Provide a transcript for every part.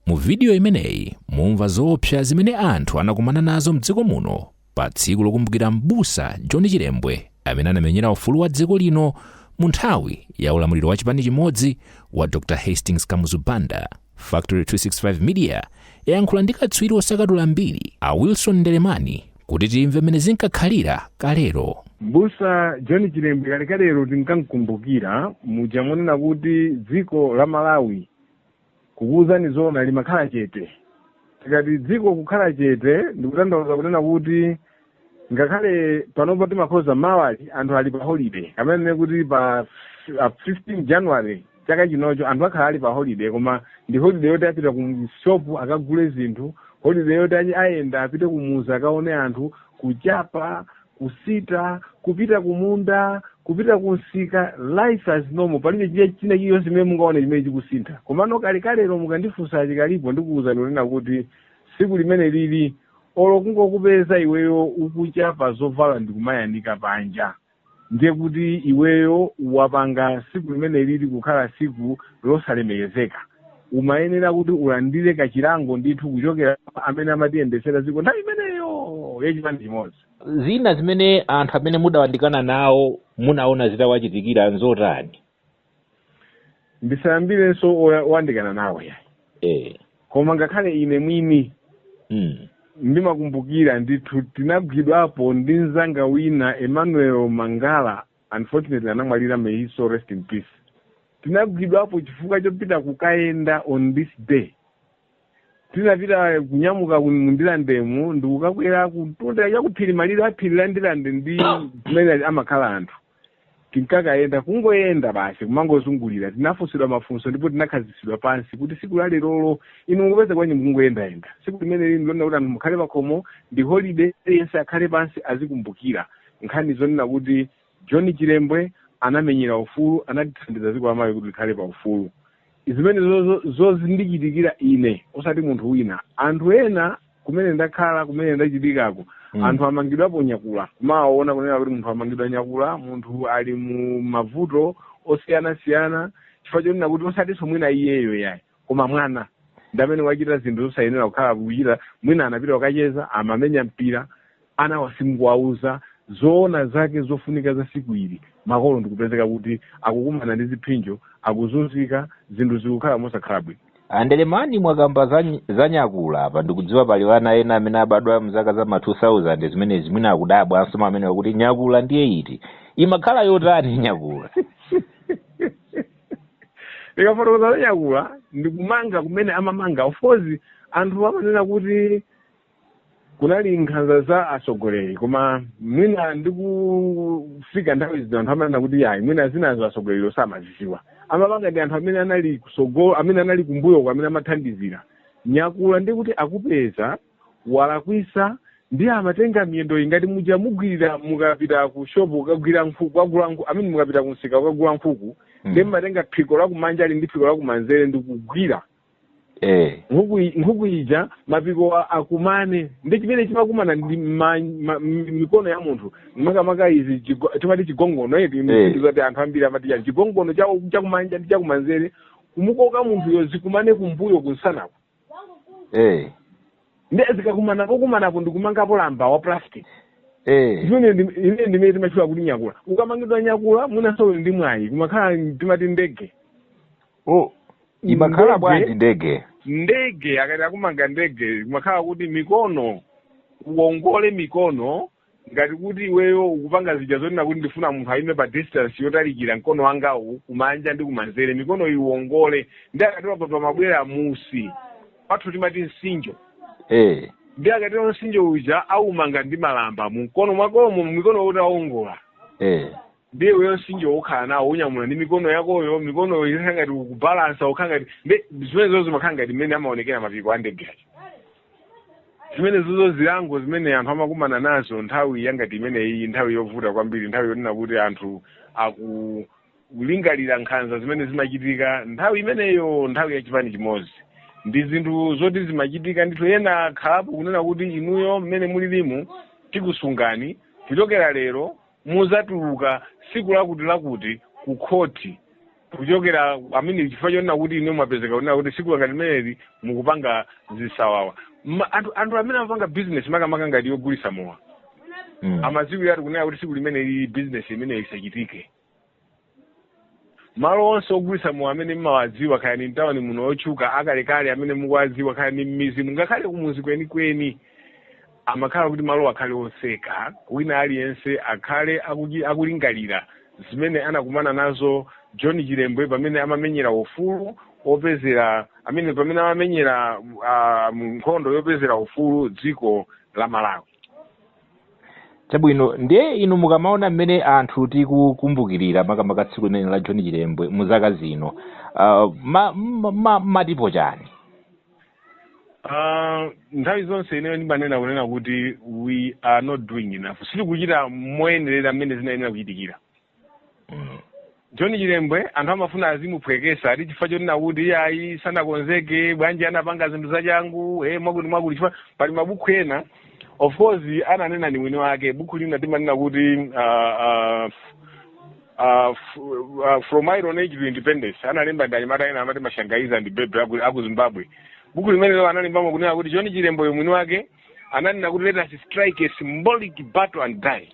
Mu vidiyo imeneyi mumva zoopsa zimene anthu anakumana nazo m'dziko muno pa tsiku lokumbukira m'busa John Chilembwe amene anamenyera ufulu wa dziko lino mu nthawi ya ulamuliro wa chipani chimodzi wa Dr. Hastings Kamuzu Banda. Factory 265 Media yayankhula ndi katswiri wosakatula mbiri a Wilson Ndelemani kuti timve mmene zinkakhalira kalero. Mbusa John Chilembwe kalekalero tinkamkumbukira muja monena kuti dziko la Malawi Kukuuzani zoona limakhala chete. Tikati dziko kukhala chete ndikutanthauza kunena kuti ngakhale panopa timakhoza mawali anthu ali pa holiday kapena tinene kuti pa f- a 15 January chaka chino cho anthu akhala ali pa holiday koma ndi holiday yoti apita ku shop akagule zinthu, holiday yoti achi- ayenda apite kumuzi akaone anthu, kuchapa kusita, kupita kumunda, kupita kumsika, life as normal. Palibe china china chilichonse chimene mungaone chimene chikusintha. Komano kalekalero mukandifunsa chikalipo ndikuwuzani kunena kuti tsiku limene lili olo kungokupeza iweyo ukuchapa zovala ndikumayanika panja ndiye kuti iweyo wapanga tsiku limene lili kukhala tsiku losalemekezeka. umayenera kuti ulandire kachilango ndithu kuchokera kwa amene amatiyendetsera dziko nthawi imeneyo yachipani chimodzi zina zimene anthu amene mudawandikana nawo munaona zitawachitikira nzotani ndisayambirenso oya- oyandikana nawo yayi eh. koma ngakhale ine mwini mm. ndimakumbukira ndithu tinagwidwapo ndi mzanga wina emmanuel mangala unfortunately anamwalira may his soul rest in peace tinagwidwapo chifukwa chopita kukayenda on this day tinapita kunyamuka ku- mu ndilandemu ndikukakwera kutunda chakuphiri malire aphiri la ndilande ndi kumene amakhala anthu tinkakayenda kungoyenda basi kumangozungulira tinafunsidwa mafunso ndipo tinakhazikitsidwa pansi kuti siku la lerolo inu mukupeza bwanji mukungoyendayenda siku limene lili ndi lonena kuti anthu mukhale pakhomo ndi holiday aliyense akhale pansi azikumbukira Nkhani zonena kuti John Chilembwe anamenyera ufulu, analithandiza dziko la Malawi kuti likhale pa ufulu, zimenezozo zozindichitikira ine osati munthu wina. Anthu ena kumene ndakhala, kumene ndachitikako, mm. anthu amangidwapo nyakula, kumawaona kunena kuti munthu amangidwa nyakula, munthu ali mu mavuto osiyana-siyana chifukwa chonena kuti osatinso mwina iyeyo yayi. Koma mwana ndi amene wachita zinthu zosayenera kukhala kuchita, mwina anapita kukacheza, amamenya mpira, anawa simukuwauza zoona zake zofunika za siku ili, makolo ndikupezeka kuti akukumana ndi ziphinjo, akuzunzika, zinthu zikukhala mosakhala bwino. A Ndelemani mwakamba za nyakula apa ndikudziwa pali ana ena amene abadwa mzaka za ma 2000 zimenezi mwina akudabwanso mwa amenewa kuti nyakula ndiye iti? Imakhala yotani nyakula? likafotokoza za nyakula ndikumanga kumene amamanga of course anthu amanena kuti kunali nkhanza za atsogoleri koma mwina ndikufika nthawi zino anthu amanena kuti ayi mwina zinazo atsogoleri samazidziwa amapanga ndi anthu amene anali kusogolo amene anali kumbuyoko amene amathandizira nyakula ndikuti akupeza walakwisa ndiye amatenga miyendo ngati muja mugwirira mukapita ku shopu kukagula nkhuku kukagula nkhuku amene mukapita ku msika kukagula nkhuku Mm. ndiye mumatenga phiko lakumanjali ndi phiko lakumanzere ndikugwira eh nkhuku i- nkhuku ija mapiko a- akumane ndi chimene chimakumana ndi ma- ma- mi- mikono ya munthu makamaka izi chigo- timati chigongono eti Eh. zoti anthu ambiri amati chani chigongono cha- chakumanja ndi chakumanzere kumukoka munthuyo zikumane kumbuyo kunsanako eh nde zikakumana pokumanapo ndikumangapo lamba wa plastic eh imene ndi- imene ndimene timatchula kuti nyakula ukamangidwa nyakula mwinanso uli ndi mwayi kumakhala timati ndege oh imakhala Ndege. bwanji ndege ndege akati akumanga ndege kumakhala kuti mikono uongole mikono ngati kuti iweyo ukupanga zija zonena kuti ndifuna munthu ayime pa distance yotalikira mkono wangawu kumanja ndi kumanzere mikono iwongole nde akatero a pamabwera musi pathu timati msinjo eh nde akatero msinjo uja aumanga ndi malamba mu mikono mwakomo mikono yoti aongola eh nde iweyo msinjo ukhala nawo unyamula ndi mikono yakoyo mikonoyo izakhala ngati ukubalansa ukhala ngati nde zimenezozo zimakhala ngati mmene amaonekera mapiko a ndege aja zimenezozo zilango zimene anthu amakumana nazo nthawi yangati imeneyi nthawi yovuta kwambiri nthawi yonena kuti anthu aku kulingalira nkhanza zimene zimachitika nthawi imeneyo nthawi ya chipani chimodzi ndi zinthu zoti zimachitika ndithu ena akalapo kunena kuti inuyo mmene mulilimu tikusungani kuchokera lero muzatuluka siku lakuti lakuti ku khoti kuchokera mmenemo chifukwa chonena kuti inu mwapezeka kunena kuti siku ngati limeneli mukupanga zisawawa Ma- anthu anthu amene amapanga business makamaka ngati yogulisa mowa Mm. amaziwiratu kunena kuti siku limeneli business imeneyo isachitike malo onse ogulitsa mowa amene mmawadziwa kaya ni mtawuni muno otchuka akalekale amene mukuwadziwa kaya ni mmizi ngakhale kumuzi kwenikweni amakhala kuti malo akhale oseka wina aliyense akhale akuji- akulingalira zimene anakumana nazo john chilembwe pamene amamenyera ufulu opezera amene pamene amamenyera ah, mu nkhondo yopezera ufulu dziko la malawi Chabwino, ndiye inu mukamaona mmene anthu tikukumbukirira makamaka tsiku limeneli la John Chilembwe mu zaka zino, uh, ma, ma, ma, mumatipo chani? Ah, nthawi zonse ineyo ndimanena kunena kuti we are not doing enough sitikuchita moyenerera mmene zinayenera kuchitikira john chilembwe anthu amafuna azimuphwekesa ati chifukwa chonena kuti iye ayi sanakonzeke bwanji anapanga zinthu zachangu e mwakuti mwakuti chifukwa pali mabuku ena of course ananena ni mwini wake buku lina timanena kuti uh, uh, uh, f- uh, from iron age to independence analemba ndanyamata ena amati mashangaiza ndi bebe aku, aku zimbabwe buku limenelo analembamo kunena kuti john chilembwe mwini wake ananena kuti let us strike a symbolic battle and die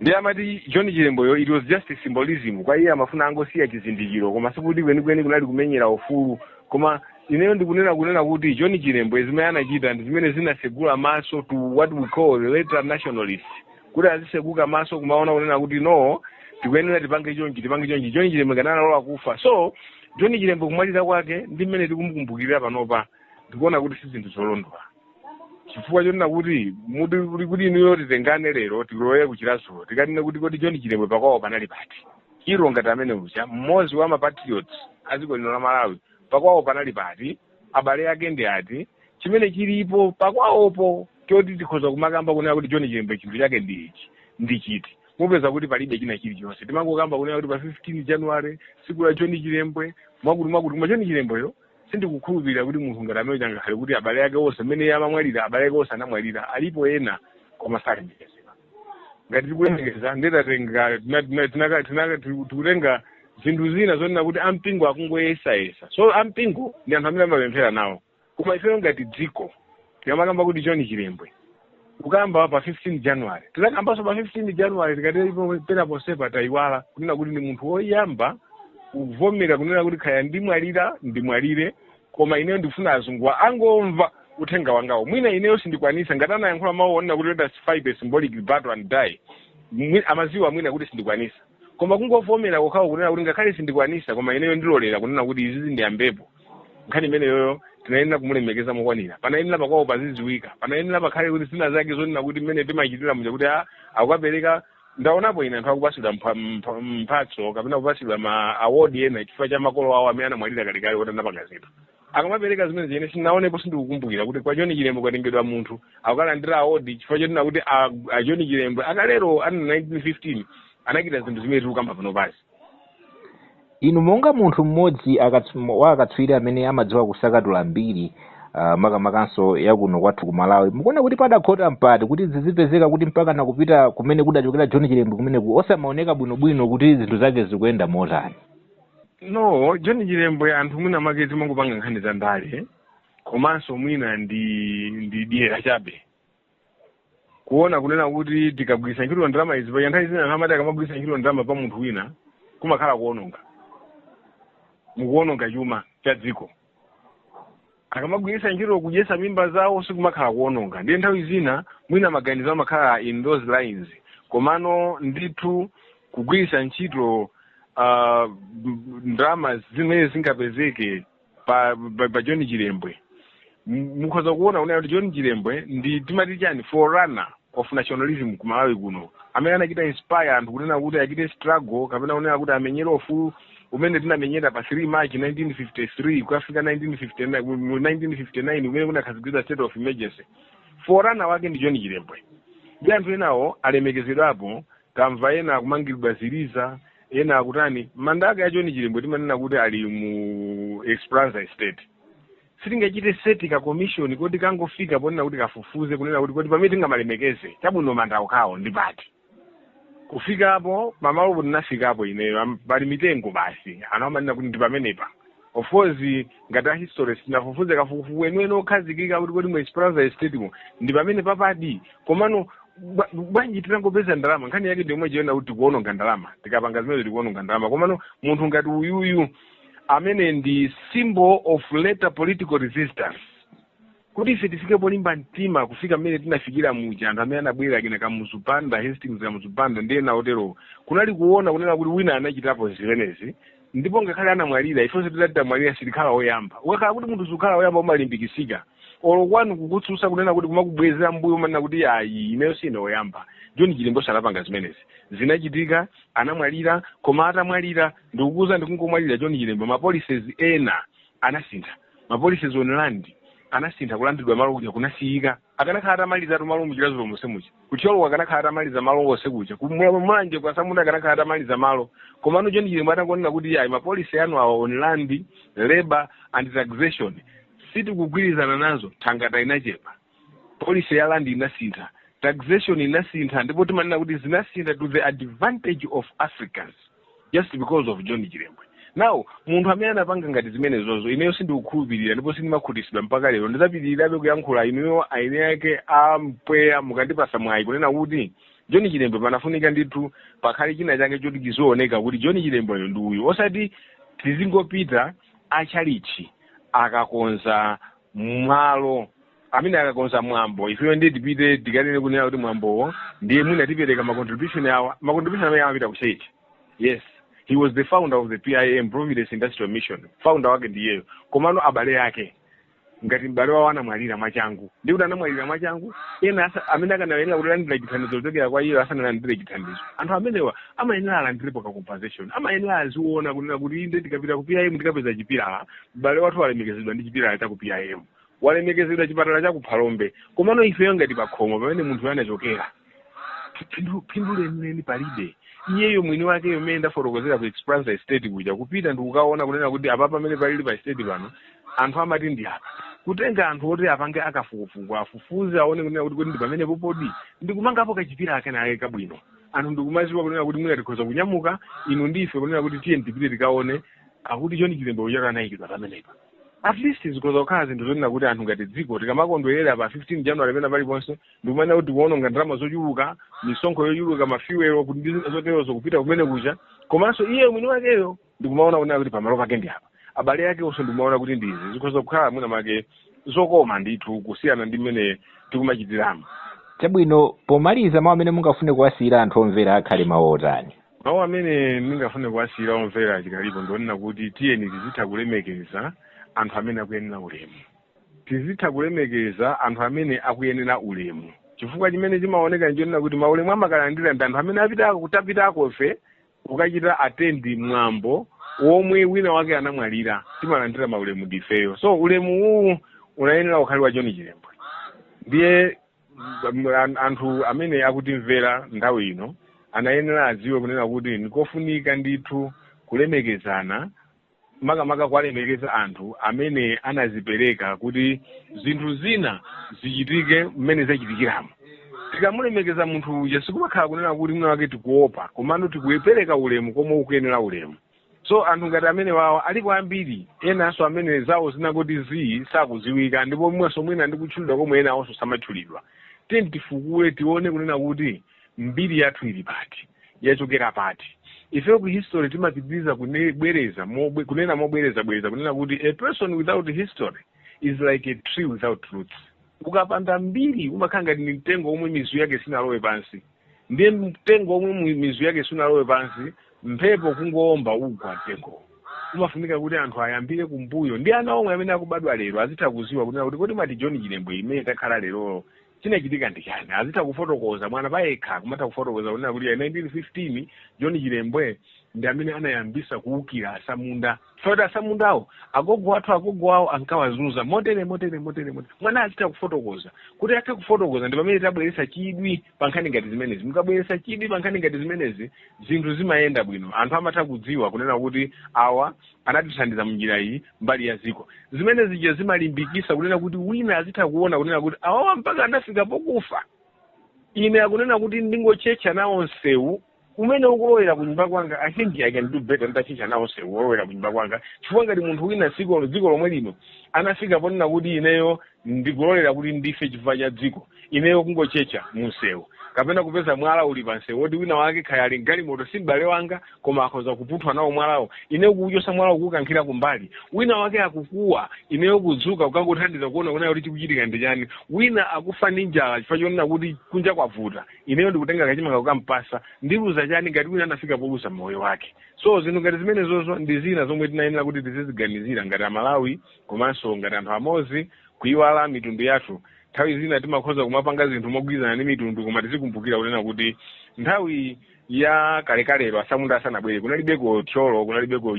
ndiye amati john chilembweyo it was just a symbolism kwa iye amafuna angosiya chizindikiro koma sikuti kwenikweni kunali kumenyera ufulu koma ineyo ndikunena kunena kuti john chilembwe zimene anachita ndi zimene zinasegula maso to what we call the later nationalists kuti aziseguka maso kumaona kunena kuti no tikuyenera tipange chonchi tipange chonchi john chilembwe analola kufa so john chilembwe kumwalira kwake ndi mmene tikumukumbukirira panopa ndikuona kuti si zinthu zolondola chifukwa chonena kuti muti kuli kuti inuyo titengane lero tilowe ku chiradzulu tikanene kuti kodi john chilembwe pakwawo panali pati hero ngati amene uja mmodzi wa mapatriots a dziko lino la malawi pakwawo panali pati abale ake ndi ati chimene chilipo pakwawopo choti tikhoza kumakamba kunena kuti john chilembwe chinthu chake ndi ichi ndi chiti mupeza kuti palibe china chilichonse timangokamba kunena kuti pa 15 january siku la john chilembwe mwakuti mwakuti koma john chilembweyo sindikukhulupirira kuti munthu ngati amene uja ngakhale kuti abale ake onse mmene iye amamwalira abale ake onse anamwalira alipo ena koma salemekezedwa ngati tikulemekeza nde titenga tikutenga zinthu zina zonena kuti ampingo akungoyesayesa so ampingo ndi anthu amene amapemphera nawo koma ifeyo ngati dziko tikamakamba kuti john chilembwe kukamba pa 15 january tizakambanso pa 15 january tikatero pena ponsepa tayiwala kunena kuti ndi munthu woyamba kuvomera kunena kuti kaya ndimwalira ndimwalire koma ineyo ndifuna azunguwa angamve uthenga wangawo mwina ineyo sindikwanisa ngati anayankhula mawu onena kuti let us fight a symbolic battle and die Mwi- amaziwa mwina kuti sindikwanisa koma kungovomera kokhawo kunena kuti ngakhale sindikwanisa koma ineyo ndilolera kunena kuti izizi ndiyambepo nkhani imeneyoyo tinayenera kumulemekeza mokwanira panayenera pakwawo pazidziwika panayenera pakhale zina zake zonena kuti mmene timachitira muja kuti a- akukapereka ndaonapo ine anthu akupatsidwa mpha- mpha- mphatso kapena kupatsidwa ma award ena chifukwa cha makolo awo amene anamwalira kalekale kuti anapanga zinthu akamapereka zimenezi ine sinaonepo sindikukumbukira kuti kwa joni chilembwe kwatengedwa munthu akukalandira award chifukwa chonena kuti a- a joni chilembwe akalero a mu 1915 anachita zinthu zimene tikukamba pano pasi Inu monga munthu mmodzi akats wa akatswiri amene amadziwa kusakatula mbiri uh, makamakanso ya kuno kwathu ku Malawi, mukuona kuti padakhota mpati kuti zizipezeka kuti mpaka nakupita kumene adachokera John Chilembwe kumeneku osamaoneka bwinobwino kuti zinthu zake zikuyenda motani? No, John Chilembwe anthu mwina make timangopanga nkhani za ndale komanso mwina ndi ndi dyera chabe kuona kunena kuti tikagwiritsa ntchito ndalama izi paja nthawi zina amati akamagwiritsa ntchito ndalama pa munthu wina kumakhala kuononga mukuononga chuma cha dziko akamagwiritsa ntchito kudyesa mimba zawo sikumakhala kuononga ndiye nthawi zina mwina maganizo amakhala in those lines komano ndithu kugwiritsa ntchito uh, ndalama zimene zingapezeke pa pa, pa john chilembwe M- mukhoza kuona kunena kuti john chilembwe ndi timati chani forerunner of nationalism ku malawi kuno amene anachita inspire anthu kunena kuti achite struggle kapena kunena kuti amenyere ufulu umene tinamenyera pa 3 march 1953 kukafika 1959 mu 1959 umene kunakhazikitsidwa state of emergency forerunner wake ndi john chilembwe ndi anthu enawo alemekezedwapo Tamva ena akumangilidwa ziliza, ena akutani. Manda ake a John Chilembwe timanena kuti ali mu Esperanza Estate. Sitingachite set ka commission kuti kangofika ponena kuti kafufuze kunena kuti kodi pamene tingamalemekeze, chabwino manda okhawo ndi pati. Kufikapo, pamalopo ndinafikapo ineyo, am, pali mitengo basi, anthu amanena kuti ndi pamenepa. of course ngati a history sitinafufuze kafukufuku weniweni okhazikika kuti kodi mu esperanza estate mo ndi pamenepapadi komano bwa- bwanji titangopeza ndalama nkhani yake ndiyomwe ija kunena kuti tikuononga ndalama tikapanga zimenezo tikuononga ndalama komano munthu ngati uyuyu amene ndi symbol of later political resistance Kuti ife tifike polimba mtima kufika mmene tinafikira muja, anthu amene anabwera, achina Kamuzu Banda, Hastings Kamuzu Banda ndi ena oterowo, kunali kuona kunena kuti wina anachitapo zimenezi ndipo ngakhale anamwalira, ifenso titati tamwalira sitikhala oyamba. Ukakhala kuti munthu sukhala oyamba umalimbikitsika, olo kwanu kukutsutsa kunena kuti kumakubwezera m'mbuyo umanena kuti ayi ineyo sine oyamba. John Chilembonso anapanga zimenezi, zinachitika, anamwalira, koma atamwalira ndikukuuzani ndikungomwalira John Chilembwe, ma policies ena anasintha. Ma policies on land anasintha, kulandidwa malo kuja kunasiyika. Akanakhala atamalizatu malo mu Chiradzulo monse muja, ku Thyolo uku akanakhala atamaliza malo onse kuja, ku Mu- Mulanje uku atsamunda akanakhala atamaliza malo. Komano John Chilembwe atangonena kuti ayi ma policy anu awa on land, labour and taxation sitikugwirizana nazo, thangata inachepa. policy ya land inasintha taxation inasintha ndipo timanena kuti zinasintha to the advantage of africans just because of john chilembwe now munthu amene anapanga ngati zimenezozo ineyo sindikukhulupirira ndipo sindimakhutitsidwa mpaka lero ndizapitirirabe kuyankhula inuyo aeni ake a mpweya mukandipasa mwayi kunena kuti john chilembwe panafunika ndithu pakhale china chake choti chizioneka kuti john chilembweyo ndi uyu osati tizingopita achalichi akakonza malo amene akakonza mwambo ifeyo ndiye tipite tikanene kunena kuti mwambowo ndiye mwina tipereka ma contribution awa ma contribution amene amapita ku church yes he was the founder of the pim providence industrial mission founder wake ndiyeyo komano abale ake ngati m'bale wawo anamwalira mwachangu ndi kuti anamwalira mwachangu ena asa- amene akanayenera kuti alandira chithandizo kuchokera kwa iye asanalandire chithandizo anthu amenewa amayenera alandirepo ka compensation amayenera aziona kunena kuti inde tikapita ku pim tikapeza chipilala M'bale wathu walemekezedwa ndi chipilala cha ku PIM. Walemekezedwa chipatala cha ku Phalombe. Komano ifeyo ngati pakhomo pamene munthuyo anachokera, phindu, phindu lenileni palibe. Iyeyo mwini wakeyo mmene ndafotokozera ku Esperanza Estate kuja kupita ndikukaona kunena kuti apapa pamene palili pa estate pano anthu amati ndi apa. Kutenga anthu oti apange akafukufuku afufuze aone kunena kuti kodi ndi pamenepodi ndikumangapo kachipilala kenakake kabwino. Anthu ndikumaziwa kunena kuti mwina tikhoza kunyamuka inu ndi ife kunena kuti tiyeni tipite tikaone akuti john chilembwe chaka anayikidwa pamenepa at least zikhoza kukhala zinthu zonena kuti anthu ngati dziko tikamakondwerera pa 15 january pena paliponse ndikumanena kuti tikuononga ndalama zochuluka misonkho yochuluka mafiwelo kuti ndi zina zoterozo kupita kumene kuja komanso iye mwini wakeyo ndikumaona kunena kuti pamalo pake ndi apa abale ake onse ndikumaona kuti ndizi zikhoza kukhala mwina make zokoma ndithu kusiyana ndi mmene tikumachitiramo chabwino pomaliza mawu amene mungafune kuwasiyira anthu omvera akhale mawu otani mawu amene ndingafune kuwasiyira omvera achikalipo ndionena kuti tiyeni tizitha kulemekeza anthu amene akuyenera ulemu tizitha kulemekeza anthu amene akuyenera ulemu chifukwa chimene chimaoneka nchonena kuti maulemu amakalandira ndi anthu amene apitako titapitako ife kukachita attend mwambo womwe wina wake anamwalira timalandira maulemu ndifeyo so ulemu uwu unayenera ukhale wa john chilembwe ndiye anthu amene akutimvera nthawi ino anayenera adziwe kunena kuti ndikofunika ndithu kulemekezana makamaka kuwalemekeza anthu amene anazipereka kuti zinthu zina zichitike mmene zachitikiramo tikamulemekeza munthu uja sikumakhala kunena kuti mwina wake tikuopa komano tikupereka ulemu komwe ukuyenera ulemu so anthu ngati amenewawa alipo ambiri enanso amene zawo zinangoti zii sakuziwika ndipo mwenso mwina ndi kutchulidwa komwe enawonso samatchulidwa tiyeni tifukule tione kunena kuti mbiri yathu ili pati yachokera pati ifeyo ku history timapitiriza kunebwereza mobwe- kunena mobwereza bwereza kunena kuti a person without history is like a tree without roots ukapanda mbiri umakhala ngati ni mtengo omwe mizu yake sinalowe pansi ndiye mtengo omwe mu- mizu yake sunalowe pansi mphepo kungowomba ugwa mtengowo umafunika kuti anthu ayambire kumbuyo ndi ana omwe amene akubadwa lero azitha kuziwa kunena kuti kodi mati john chilembwe imene takhala lerolo chinachitika ndi chani azitha kufotokoza mwana payekha kumatha kufotokoza kunena kuti ya 1915 john chilembwe ndi amene anayambisa kuwukira atsamunda Choti asamundawo agogo athu agogo awo ankawazunza motere motere. Mwana azitha kufotokoza. Kuti athe kufotokoza ndi pamene tabweretsa chidwi pa nkhani ngati zimenezi. Mukabweretsa chidwi pa nkhani ngati zimenezi, zinthu zimayenda bwino. Anthu amatha kudziwa kunena kuti awa anatithandiza munjira iyi mbali ya dziko. Zimene zija zimalimbikitsa kunena kuti wina azitha kuona kunena kuti awawa mpaka anafika pokufa. Ine akunena kuti ndingotchetcha nawo nsewu umene ukulowera kunyumba kwanga i think i can do better nditatchetcha nawo nsewu wolowera kunyumba kwanga chifukwa ngati munthu wina dziko lomwe lino anafika ponena kuti ineyo ndikulolera kuti ndife chifukwa cha dziko ineyo kungotchetcha munsewu kapena kupeza mwala uli pansewu woti wina wake kaya ali mgalimoto si m'bale wanga koma akhoza kupunthwa nawo mwalawo ineyo kuuchotsa mwalawo kuukankhira kumbali wina wake akukuwa ineyo kudzuka kukangothandiza kuona kuti chikuchitika ndi chani wina akufa ndi njala chifukwa chonena kuti kunja kwavuta ineyo ndikutenga kachimanga kukampatsa ndiluza chani ngati wina anafika poluza moyo wake so zinthu ngati zimenezozo ndi zina zomwe tinayenera kuti tiziziganizira ngati amalawi komanso ngati anthu amodzi kuiwala mitundu yathu nthawi zina timakhoza kumapanga zinthu mogwirizana ndi mitundu koma tizikumbukira kunena kuti nthawi ya kalekalero asamunda asanabwere kunalibeko thyolo kunalibeko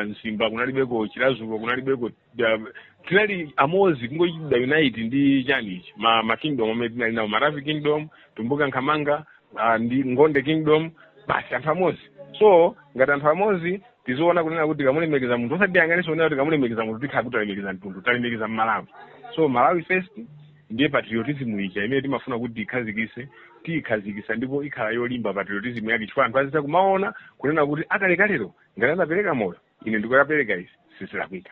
Mzimba kunalibeko Chiradzulu kunalibeko Da- tinali amodzi kungochita unite ndi chanichi ma, ma kingdom amene tinali nawo maravi kingdom tumbuka nkhamanga uh, ndi ngonde kingdom basi anthu amodzi so ngati anthu amodzi tiziona kunena kuti tikamulemekeza munthu osati tiyang'anenso kunena kuti tikamulemekeza munthu tikhala kuti talemekeza mtundu talemekeza mmalawi so malawi first ndiye patriotism ija imene timafuna kuti tikhazikitse tiyikhazikitsa ndipo ikhala yolimba patriotism yake chifukwa anthu azitha kumaona kunena kuti akalekalero ngati anapereka moyo ine ndikukapereka izi sizilakwika